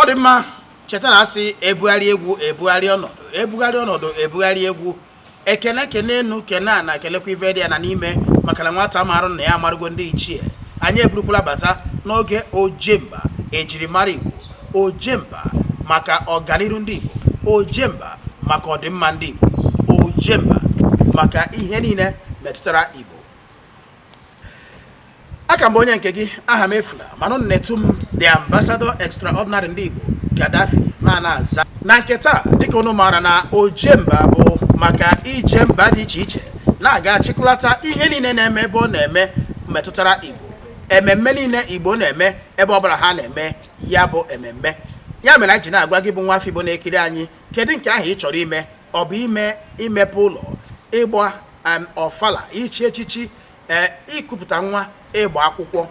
ọ dị mma cheta na a sị ebugharị egwu ebugharị ọnọdụ ebugharị ọnọdụ ebugharị egwu ekene kene enu kene ana kelekwa ive dị ana n'ime maka na nwata marụ nna ya amarụgo ndị ichie anyị eburukwala bata n'oge ojemba ejirimara igbo ojemba maka ọganiru ndị igbo ojemba maka ọdịmma ndị igbo ojemba maka ihe niile metụtara igbo aka m bụ onye nke gị Ahamefula mana unu na-etu m the ambassador extraordinary ndị Igbo Gaddafi ma na-aza na nke taa dịka unu maara na ojemba bụ maka ije mba dị iche iche na-aga achịkọlata ihe niile na-eme ebe ọ na-eme metụtara Igbo ememme niile Igbo na-eme ebe ọ bụla ha na-eme ya bụ ememme ya mere anyị ji na-agwa gị bụ nwa afọ Igbo na-ekiri anyị kedu nke ahụ ị chọrọ ime ọ bụ ee imepe ụlọ ịgba em, ọfala ichi echichi ee ikupụta nwa ịgba akwụkwọ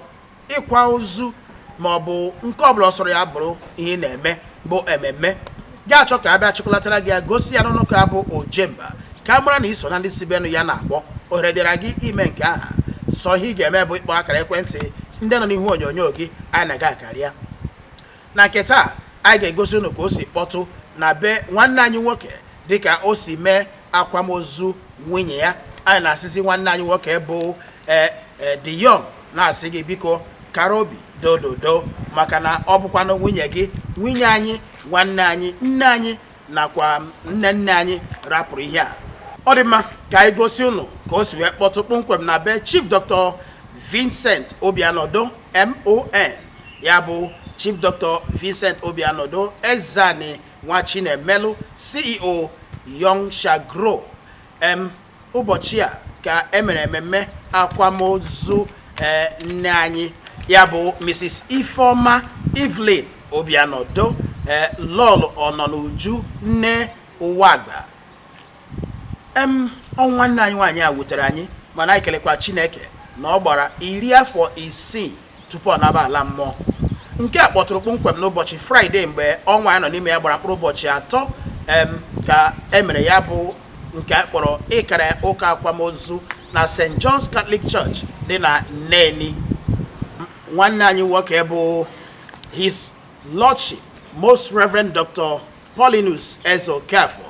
ịkwa ozu ma ọ bụ nke ọbụla ọ sọrọ ya bụrụ ihe ị na-eme bụ ememme gị achọ ka a bịa chịkọlatara gị ya gosi ya n'ọnụ ka bụ ojemba ka a mara na i so na ndị si benụ ya na-agbọ ohere dịra gị ime nke ahụ sọ ihe ị ga-eme bụ ịkpọ akara ekwentị ndị nọ n'ihu onyonyo gị anyị na gị akarịa na nke taa anyị ga-egosi unu ka o si kpọtụ na be nwanne anyị nwoke dịka o si mee akwamozu nwunye ya anyị na-asịzi nwanne anyị nwoke bụ ee ee The Young na-asị gị biko kara obi dododo maka na ọ bụkwanụ nwunye gị nwunye anyị nwanne anyị nne anyị nakwa nne nne anyị rapụrụ ihe a ọ dị mma ka anyị gosi unu ka o si wee kpọtụ kpọmkwem na be Chief Dr. Vincent Obianodo MON ya bụ Chief Dr. Vincent Obianodo Ezeani Nwachinemelu CEO Young Shall Grow ụbọchị a ka e mere ememme akwamozu ee nne anyị ya bụ mrs ifeoma evelyn obianodo ee lọlọ ọnọnuju nne ụwagba em ọnwụ nne anyị nwaanyị a wutere anyị mana anyị kelekwa chineke na ọ gbara iri afọ isii tupu ọ naba ala mmụọ nke a kpọtụrụ kpọmkwem n'ụbọchị fraịde mgbe ọnwa anyị nọ n'ime ya gbara mkpụrụ ụbọchị atọ ka e mere ya bụ nke a kpọrọ ịkara ụka akwamozu na st john's catholic church dị na neni nwanne anyị nwoke bụ his lordship most reverend dr Paulinus Ezeokafor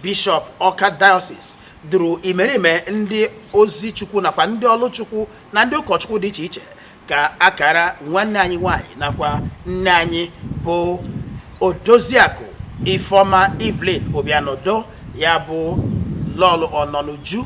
bishọp Ọka Diocese duru imerime ndị ozi Chukwu nakwa ndị ọlụ Chukwu na ndị ụkọchukwu dị iche iche ka a kara nwanne anyị nwanyị nakwa nne anyị bụ Odoziakụ Ifeoma Evelyn Obianodo ya bụ Lọlọ Ọnọnuju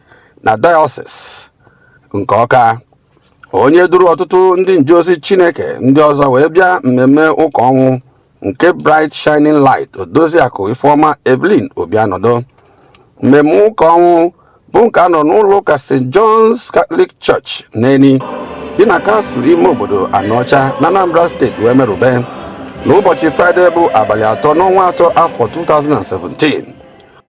na dayọsis nke ọka onye duru ọtụtụ ndị njeozi chineke ndị ọzọ wee bịa mmemme ụka ọnwụ nke bright shining light odoziakụ ifeọma evelyn obianọdụ mmemme ụka ọnwụ bụ nke a nọ n'ụlọ ụka st john's catholic church neni dị na kansụl ime obodo anọcha na anambra steeti wee merube n'ụbọchị fraịde bụ abalị atọ n'ọnwa atọ afọ 2017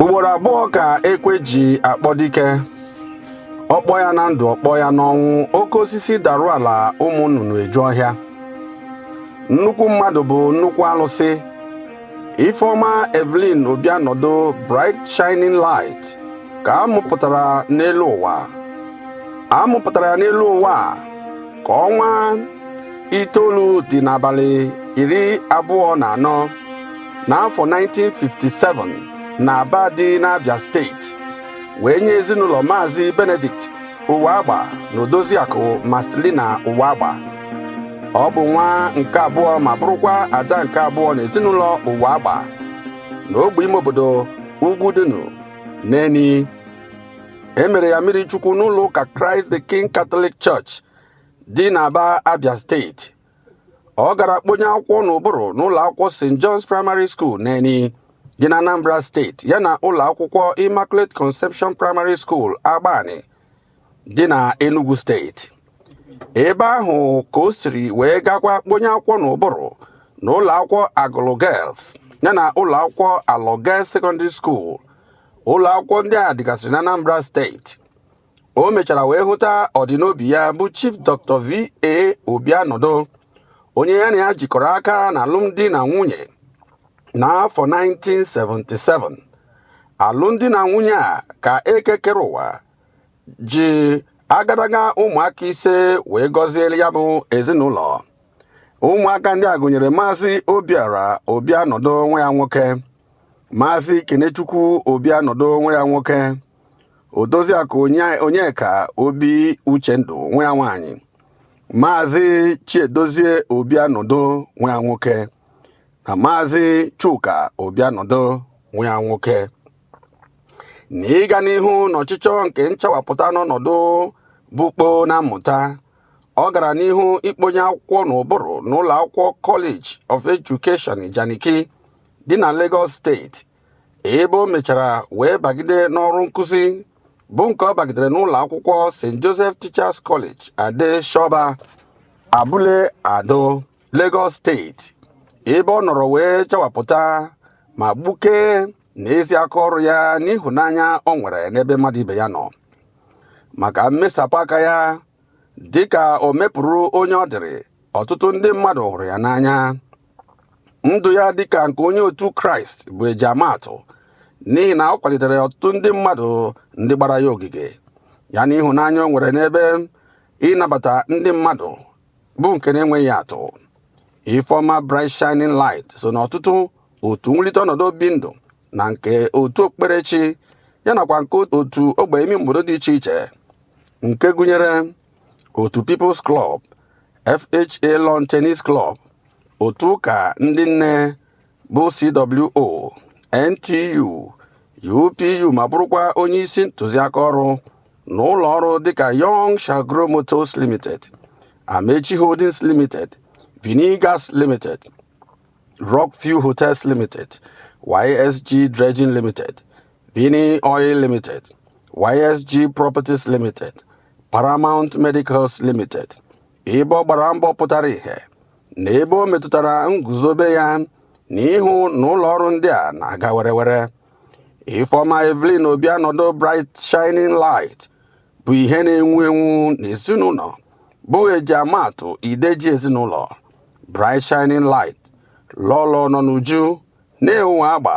ugboro abụọ ka ekwe ji akpọ dike ọ kpọọ ya na ndụ ọ kpọọ ya n'ọnwụ oke osisi darụ ala ụmụ nnụnụ eju ọhịa nnukwu mmadụ bụ nnukwu alụsị Ifeoma Evelyn Obianọdụ Bright Shining Light ka a mụpụtara n'elu ụwa a mụpụtara ya n'elu ụwa ka ọnwa itoolu dị n'abalị iri abụọ na anọ n'afọ 1957 na Aba dị n'Abia steeti wee nye ezinụlọ Maazị Benedict Ụwagba na Odoziakụ Marcelina Ụwagba ọ bụ nwa nke abụọ ma bụrụkwa ada nke abụọ n'ezinụlọ Ụwagba na ogbe ime obodo Ugwudunu Neni e mere ya mmiri chukwu n'ụlọ ụka Christ the King Catholic Church dị n'Aba Abia steeti ọ gara kponye akwụkwọ n'ụbụrụ n'ụlọ akwụkwọ st john's primary school neni dị na anambra steeti yana ụlọ akwụkwọ immaculate conception primary school agbani dị na enugu steeti ebe ahụ ka o siri wee gakwa kponye akwụkwọ n'ụbụrụ na ụlọ akwụkwọ agụlụ girls yana ụlọ akwụkwọ alọ girls secondary school ụlọ akwụkwọ ndị a dịgasịrị na anambra steeti o mechara wee hụta ọdịnobi ya bụ Chief Dr. VA Obianọdụ onye ya na ya jikọrọ aka na alụmdi na nwunye n'afọ 1977 alụmdi na nwunye a ka eke kere ụwa ji agadaga ụmụaka ise wee gọziere ya bụ ezinụlọ ụmụaka ndị a gụnyere maazị obiọra obianọdụ nwa ya nwoke maazị kenechukwu obianọdụ nwa ya nwoke odoziakụ onyeka obi uchendụ nwa ya nwaanyị maazị chiedozie obianọdụ nwa ya nwoke na maazị chuka obianọdụ nwa ya nwoke na ịga n'ihu n'ọchịchọ nke nchawapụta n'ọnọdụ bụkpo na mmụta ọ gara n'ihu ikponye akwụkwọ n'ụbụrụ n'ụlọ akwụkwọ College of Education Ijanikin dị na Lagos steeti ebe o mechara wee bagide n'ọrụ nkụzi bụ nke ọ bagidere n'ụlọ akwụkwọ st joseph teachers college ade shoba abule ado lagos steeti ebe ọ nọrọ wee chawapụta ma gbukee na ezi aka ọrụ ya n'ịhụnanya o nwere n'ebe mmadụ ibe ya nọ maka mmesapụ aka ya dịka o mepụrụ onye ọ dịrị ọtụtụ ndị mmadụ hụrụ ya n'anya ndụ ya dịka nke onye otu kraịst bụ e ji ama atụ n'ihi na ọ kwalitere ọtụtụ ndị mmadụ ndị gbara ya ogige ya na ịhụnanya o nwere n'ebe ịnabata ndị mmadụ bụ nke na-enweghị atụ ifeoma bright shining light so na ọtụtụ otu nwulite ọnọdụ obi ndụ na nke otu okpukperechi ya nakwa nke otu ogbe ime obodo dị iche iche nke gụnyere otu People's Club FHA Lawn Tennis Club otu ụka ndị nne bụ CWO NTU UPU ma bụrụkwa onye isi ntụziaka ọrụ na ụlọ ọrụ dịka Young Shall Grow Motors Limited Amechi Holdings Limited Vinee Gas Limited Rockview Hotels Limited YSG Dredging Limited Vinee Oil Limited YSG Properties Limited Paramount Medicals Limited ebe ọ gbara mbọ pụtara ihe na ebe o metụtara nguzobe ya na ịhụ na ụlọ ọrụ ndị a na-aga werewere Ifeoma Evelyn Obianodo Bright Shining Light bụ ihe na-enwu enwu n'ezinụlọ bụ e ji ama atụ ide ji ezinụlọ Bright Shining Light lọlọ nọ n'uju na-enwu agba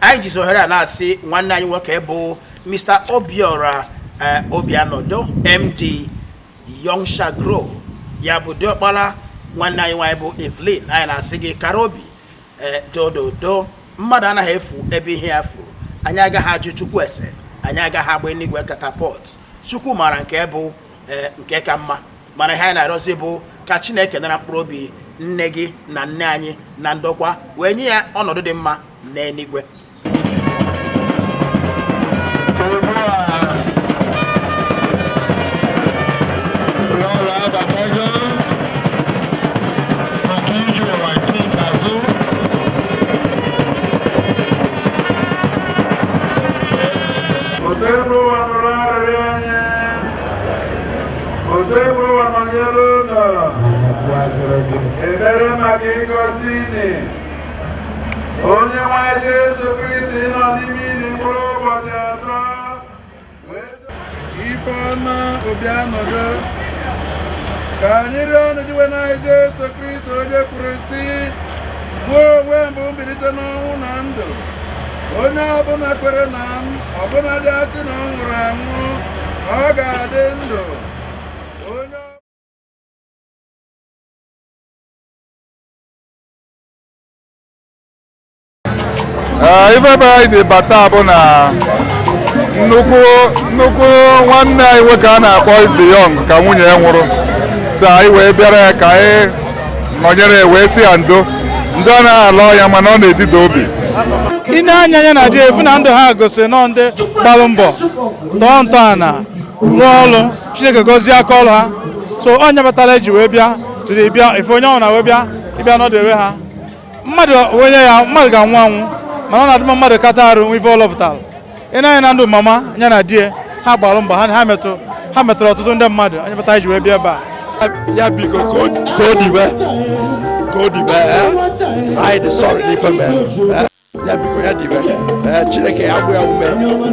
anyị jizi ohere a na-asị nwanne anyị nwoke bụ mr obiora eh, obianodo md young shall grow ya bụ diọkpala nwanne anyị nwaanyị bụ evelyn anyị na-asị gị kara obi eh, dododo mmadụ anaghị efu ebe ihe ya furu anyị agaghị ajụ chukwu ese anyị agaghị agba eluigwe katapọt chukwu maara nke bụ eh, nke ka mma mana ihe anyị na-arịọzi bụ ka chineke nara mkpụrụ obi nne gị na nne anyị na ndokwa wee nye ya ọnọdụ dị mma n'eluigwe Oseburụwa nọnyere ụnụ. Ekpere maka ịgọzi ini. Onyenweanyị Jesu Kristi nọ n'ime ini mkpụrụ ụbọchị atọ. Ifeọma Obianodo. Ka anyị rịọnụ Dinwenụ anyị Jesu Kristi onye kwuru sị, mụ onwe m bụ mbilite n'ọnwụ na ndụ. Onye ọbụla kwere na m ọbụnadị a sị na ọ nwụrụ anwụ ọ ga-adị ndụ ife ebe anyị ji bata bụ na nnukwu nnukwu nwanne anyị nwoke a na-akpọ The Young ka nwunye ya nwụrụ so anyị wee bịara ya ka anyị nọnyere wee sị ya ndo ndo anaghị ala ọya mana ọ na-edida obi i nee anya nya na di e fụ na ndụ ha gosiri na ọ ndị gbalụ mbọ tọọ ntọala rụọ ọrụ chineke gozie aka ọrụ ha so ọ nya kpatala e ji wee bịa tụrụ bịa ife onye ọbụna wee bịa ịbịa nọdewe ha mmadụ onye ya mmadụ ga-anwụ anwụ mana ọ na-adị mma mmadụ kata arụ nwee ife ọ lụpụtara i nee anya na ndụ mama ya na di ha gbalụ mbọ ha metụ ha metụrụ ọtụtụ ndị mmadụ ọ nya kpata e ji wee bịa ebe a ya biko ka o dibe ka o dibe eh? anyị dị sorry n'ife mere eh? ya biko ya dibe eh, chineke ya gbaa ya ume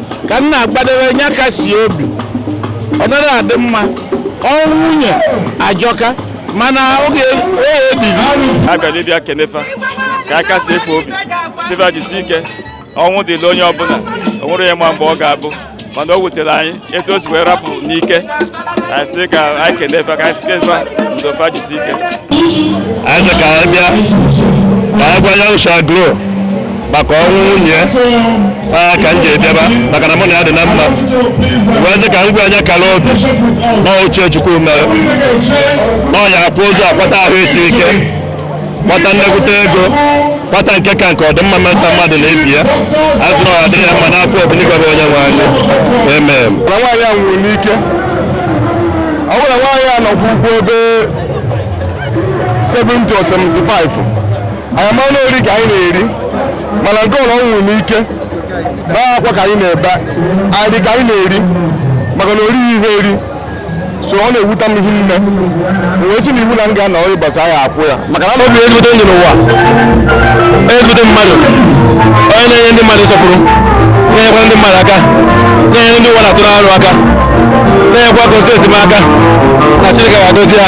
ka m na-agbadebe ya kasi obi ọ narọ adị mma ọnwụ nwunye ajọka mana ọ ihe e jiri bịara ịbịa kene fa ka anyị kasie fa obi sị fa jisi ike ọnwụ dịlị onye ọbụla o nwerọ onye ma mgbe ọ ga-abụ mana o wutere anyị etu o si wee rapụ n'ike a sị ka anyị kene fa ka anyị sị fa ndo fa jisi ike anyị sị ka anyị bịa ka anyị gwa Young Shall Grow maka ọnwụ nwunye ya aa ka m ji dị ebe a maka na mụ na ya dị na mma wee sị ka m gwa nya kara obi na uche chukwu mere na ọ ya akwụ ụzọ akpata ahụ isi ike kpata nnekwute ego kpata nke ka nke ọdịmma mmeta mmadụ na ibe ya azụ na ọ dịrị ya mma n'afa Obinigwe bụ onye nwe anyị amen na nwaanyị a nwụrụ n'ike ọ bụrụ na nwaanyị a nọkwa rugo ebe 70 or 75 anyị mara na ori ka anyị na-eri mana nke ọ bụ ọ nwụrụ n'ike na akwa ka anyị na-ebe anyị dị ka anyị na-eri maka na o rughi ihe eri so ọ na-ewute m hinne wee sị na iwu na m ga-anọ ọrụ ịbasa ya akwụ ya maka na o bi ezigbote ndụ n'ụwa ezigbote mmadụ onye na-enye ndị mmadụ nsọpụrụ na-enyekwa ndị mmadụ aka na-enye ndị ụwa na-atụ n'arụ aka na-enyekwa ka o si esi maka na Chineke ga-agozi ya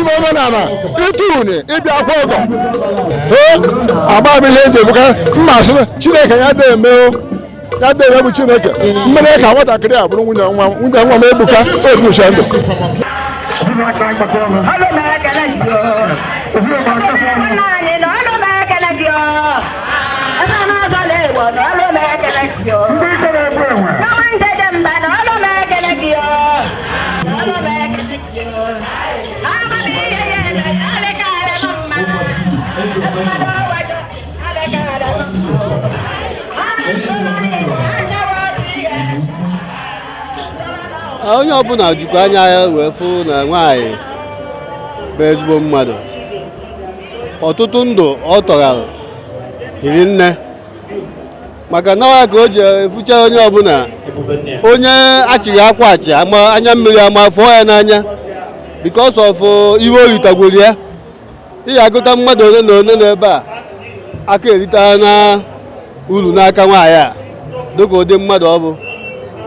ime omenala ịtụ uni ịbịa akwa ọgọ ee agba m ihe eji ebuka mma asị na chineke ya dị eme o ya dị eme bụ chineke mere ka nwatakịrị a bụrụ nwunye nwa m ebuka obucha ndụ Ndị onye ọbụla jikwa anya ya wee fụ na nwaanyị bụ ezigbo mmadụ ọtụtụ ndụ ọ tọghara hiri nne maka na ọ ya ka o ji efucha onye ọbụla onye achịghị akwa achị anya mmiri ama fụọ ya n'anya because of uh, ihe o ritagworo ya ị ga-agụta mmadụ ole na ole n'ebe a aka eritana uru n'aka nwaanyị a dịka ụdị mmadụ ọ bụ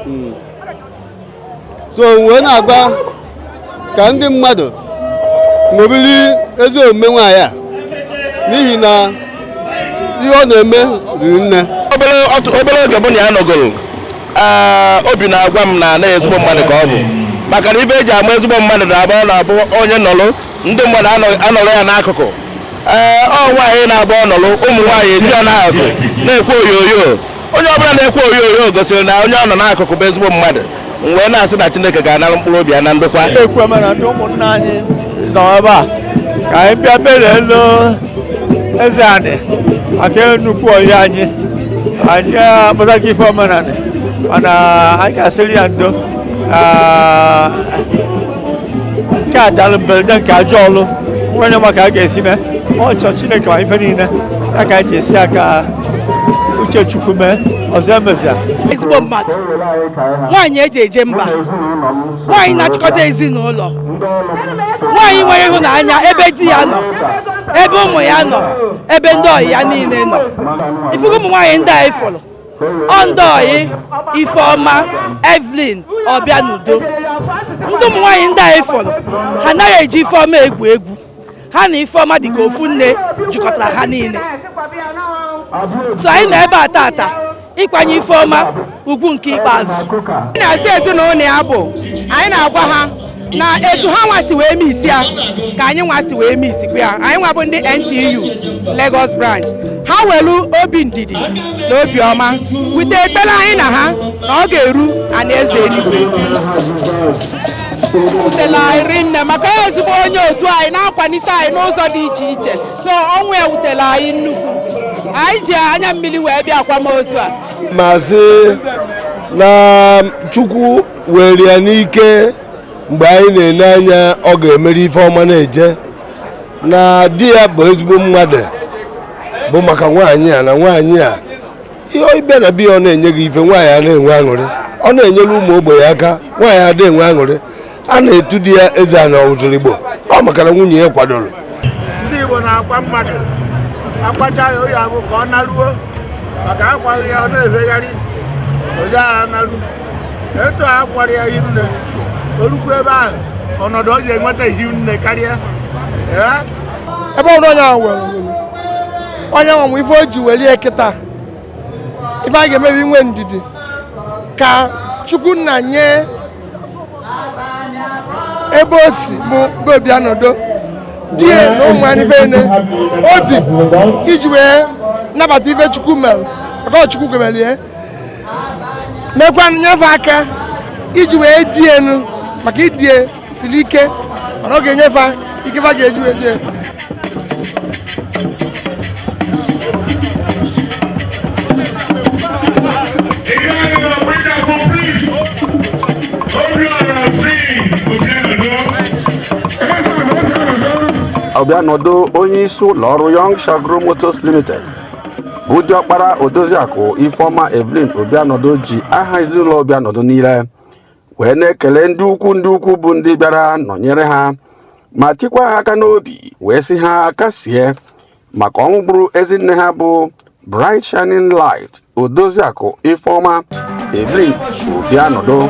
hmm. so m wee na-agwa ka ndị mmadụ ṅomiri ezi omume nwaanyị a n'ihi na ihe ọ na-eme riri nne obere oge mụ na ya nọgoro obi na-agwa m na na ezigbo mmadụ ka ọ bụ maka na ihe eji ama ezigbo mmadụ na-abụ ọ na-abụ onye nọrọ ndị mmadụ anọrọ ya n'akụkụ ee ọ nwaanyị na-abụ ọ nọrọ ụmụ nwaanyị eji ya n'azụ na-ekwe oyoyo onye ọbụla na-ekwe oyoyo gosiri na onye ọ nọ n'akụkụ bụ ezigbo mmadụ m wee na-asị na Chineke ga-anara mkpụrụ obi ya na ndokwa ekwe m na ndị ụmụnna anyị nọ ebe a ka anyị bịa bere elu eze anị maka nnukwu ọhịa anyị anyị akpụta gị ife omenanị mana anyị ga-asịrị ya ndo nke a dara mberede nke ajọ ọlụ nwere ma ka a ga-esi mee ọ sọ chineke ma ife niile ya ka anyị ji esi ya ka uche chukwu mee ọzọ emezina ezigbo mmadụ nwaanyị eji eje mba nwaanyị na-achịkọta ezinụlọ nwaanyị nwere ịhụnanya ebe di ya nọ ebe ụmụ ya nọ ebe ndị ọyị ya niile nọ ị fụgo ụmụ nwaanyị ndị a ị fụrụ ọ ndị ọyị ifeọma evelyn obianodo ndị ụmụ nwaanyị ndị anyị fụrụ ha anaghị eji ifeọma egwu egwu ha na ifeọma dịka ofu nne jikọtara ha niile so anyị nọ ebe a tata ịkwanye ifeọma ugwu nke ikpeazụ na-asị ezinụlọ ya bụ anyị na-agwa ha na etu ha nwa si wee miss ya ka anyị nwa si wee misskwa ya anyị nwa bụ ndị NTU Lagos branch ha welu obi ndidi na obi ọma wute ekpere anyị na ha na ọ ga-eru ana eze eluigwe wutela anyị rinne maka ezigbo onye otu anyị na-akwalite anyị n'ụzọ dị iche iche so ọnwụ ya wutela anyị nnukwu anyị ji anya mmiri wee bịa akwamozu a maazị na chukwu were ya n'ike mgbe anyị na-ele anya ọ ga-emeri ife ọma na-eje na di ya bụ ezigbo mmadụ bụ maka nwaanyị a na nwaanyị a ị bịa na be ya ọ na-enye gị ife nwaanyị a na-enwe aṅụrị ọ na-enyere ụmụ ogbenye aka nwaanyị ada enwe aṅụrị a na-etu di ya ezeana ozurigbo ọ maka na nwunye ya kwadoro ndị Igbo na-akwa mmadụ akwacha ya ọ ya abụ ka ọ naruo maka akwaghị ya ọ na-efegharị ozi agha naru etu a kwara ya hi nne o rukwu ebe ahụ ọnọdụ ọ ji enweta hi nne karịa ebe ọrụ onye ahụ were onye nwa nwe ife o ji welie kịta ife a ga-eme bụ inwe ndidi ka chukwu nna nye ebe o si bụ obianodo di ya na ụmụ anyị bene obi iji wee nabata ife chukwu mere ọgọchukwu kwemelie mekwa nye fa aka iji wee die nụ maka idie siri ike mana ọ ga-enye fa ike fa ga-eji wee die obianodo onye isi ụlọ ọrụ Young Shall Grow Motors Limited bụ diọkpara odoziakụ ifeọma evelyn obianodo ji aha ezinụlọ obianodo niile wee na-ekele ndị ukwu ndị ukwu bụ ndị bịara nọnyere ha ma tikwa ha aka n'obi wee sị ha kasie maka ọnwụ gburu ezi nne ha bụ bright shining light odoziakụ ifeọma evelyn obianodo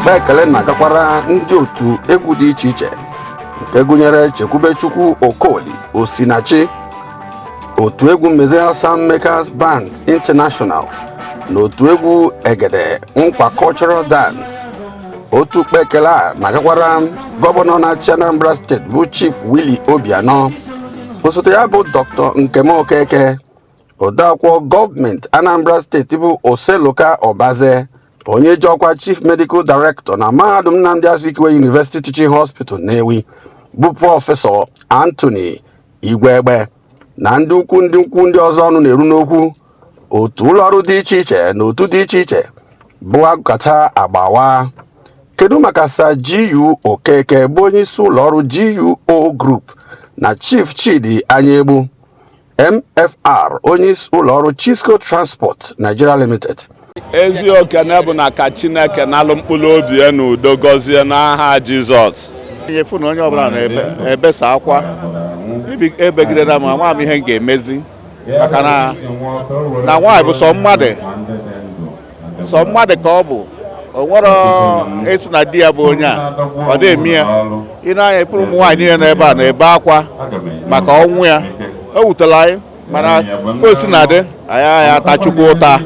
mgbe ekele na-agakwara ndị otu egwu dị iche iche nke gụnyere chekwubechukwu okoli osinachi otu egwu mezie Sound Makers Band International na otu egwu egede nkwa cultural dance otu ụkpa ekele a na-agakwara gọvanọ na-achị anambra steeti bụ chief willie obianọ osote ya bụ dr nkem okeke odeakwụkwọ gọọmenti anambra steeti bụ oseloka ọbaze onye ji ọkwa chief medical director na mahadum nnamdi azikiwe university teaching hospital nnewi bụ prọfesọ anthony igwegbe na ndị ukwu ndị ukwu ndị ọzọ ọnụ na-eru n'okwu otu ụlọọrụ dị iche iche na otu dị iche iche bụ agụkacha agba awaa kedu maka Sir GU Okeke bụ onye isi ụlọọrụ GUO Group na Chief Chidi Anyaegbu MFR onye isi ụlọọrụ Chisco Transport Nigeria Limited ezi okene bụ na ka chineke nalụ mkpụrụ obi ya n'udo gọzie n'aha jizọs nyefu na onye ọbụla na-ebesa akwa ebegidela m nwa m ihe m ga-emezi maka na na nwaanyị bụ sọ mmadụ sọ mmadụ ka ọ bụ o nwerọ ịsị na di ya bụ onye a ọ da eme ya i nee anya ị fụrụ ụmụ nwaanyị niile n'ebe a na-ebe akwa maka ọnwụ ya o wutela anyị mana ka o sina dị anyị anyị ata chukwu ụta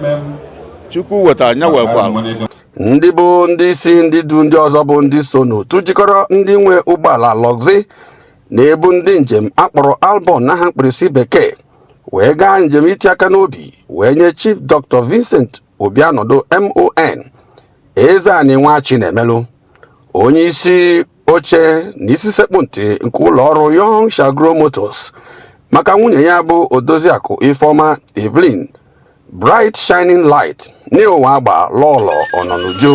chukwu wetara nya wekwa ndị bụ ndị isi ndị du ndị ọzọ bụ ndị so n'otu jikọrọ ndị nwe ụgbọala luxury na-ebu ndị njem a kpọrọ albon n'aha mkpirisi bekee wee gaa njem iti aka n'obi wee nye chief dr vincent obianodo mon eze anị nwa chinemelụ onye isi oche na isi sekpụ ntị nke ụlọ ọrụ Young Shall Grow Motors maka nwunye ya bụ Odoziakụ Ifeoma Evelyn Bright Shining Light nee Uwagba lọlọ ọnọnuju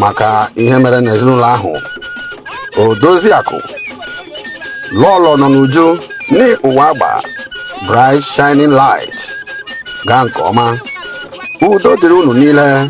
maka ihe mere n'ezinụlọ ahụ Odoziakụ lọlọ ọnọnuju nee Uwagba Bright Shining Light gaa nke ọma udo dịrị unu niile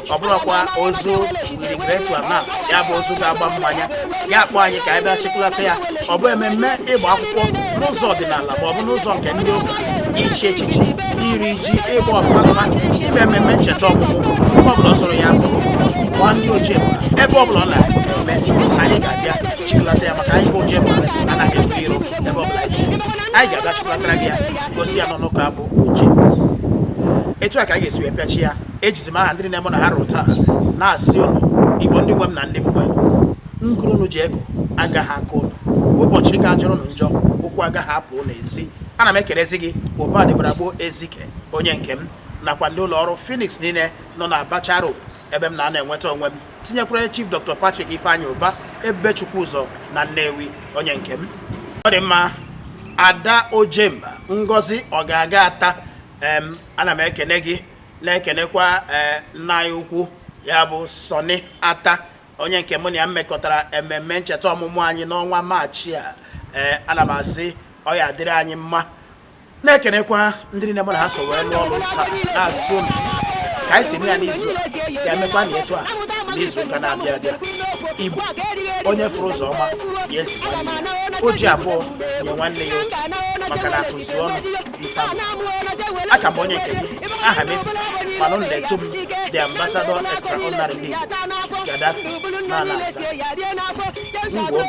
ọ bụrụkwa ozu we regret to announce ya bụ ozu ga-agba mmanya ya kpọọ anyị ka anyị bịa chịkọlata ya ọ bụ ememme ịgba akwụkwọ n'ụzọ ọdịnala ma ọ bụ n'ụzọ nke ndị ụka ichi echichi iri ji ịgba ọfala ime ememme ncheta ọmụmụ nke ọbụla ọ sọrọ ya bụ gwa ndị ojemba. ebe ọbụla ọ na-eme anyị ga-abịa chịkọlata ya maka anyị bụ ojemba anaghị ebu iro ebe ọbụla anyị ji anyị ga-abịa chịkọlatara gị ya gosi ya n'ọnụ ka bụ ochie etu a ka anyị ga-esi wee pịachi ya ejizi m aha ndị na-eme na ha rụrụ taa na-asị ụnụ igbo ndị nwe m na ndị m nwe ngụrụ unu ji ego agaghị akọ ụnụ ụbọchị aga ajọrọ ụnụ njọ ụkwụ agaghị apụ ụnụ ezi ana m ekelezi gị ụba dịbara gboo ezike onye nke m nakwa ndị ụlọ ọrụ Phoenix niile nọ na Abacha Road ebe m na-anọ enweta onwe m tinyekwara Chief Dr. Patrick Ifeanyi Uba Ebubechukwu ụzọ na Nnewi onye nke m ọ dị mma Ada Ojemba Ngozi ọ ga-aga ata ana m ekene gị na-ekenekwa ee eh, nna anyị ukwu ya bụ Sọnị Ata onye nke mụ na ya mekọtara ememme ncheta ọmụmụ anyị n'ọnwa maachị a ee eh, ana m asị ọ ya-adịrị anyị mma na-ekenekwa ndị niile mụ na ha so wee lụọ ọrụ taa na-asị unu ka anyị si eme ya n'izu ka e mekwa na etu a n'izu ụka na-abịa abịa igbo onye fụrụ ụzọ ọma ya ezi nwanne ya o ji abụọ nye nwanne ya otu maka na akụzi ọnụ aka m bụ onye nke gị Ahamefu mana unu na-etu m the ambassador extraordinary league Gaddafi na ala asa ngwo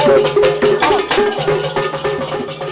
Thank you.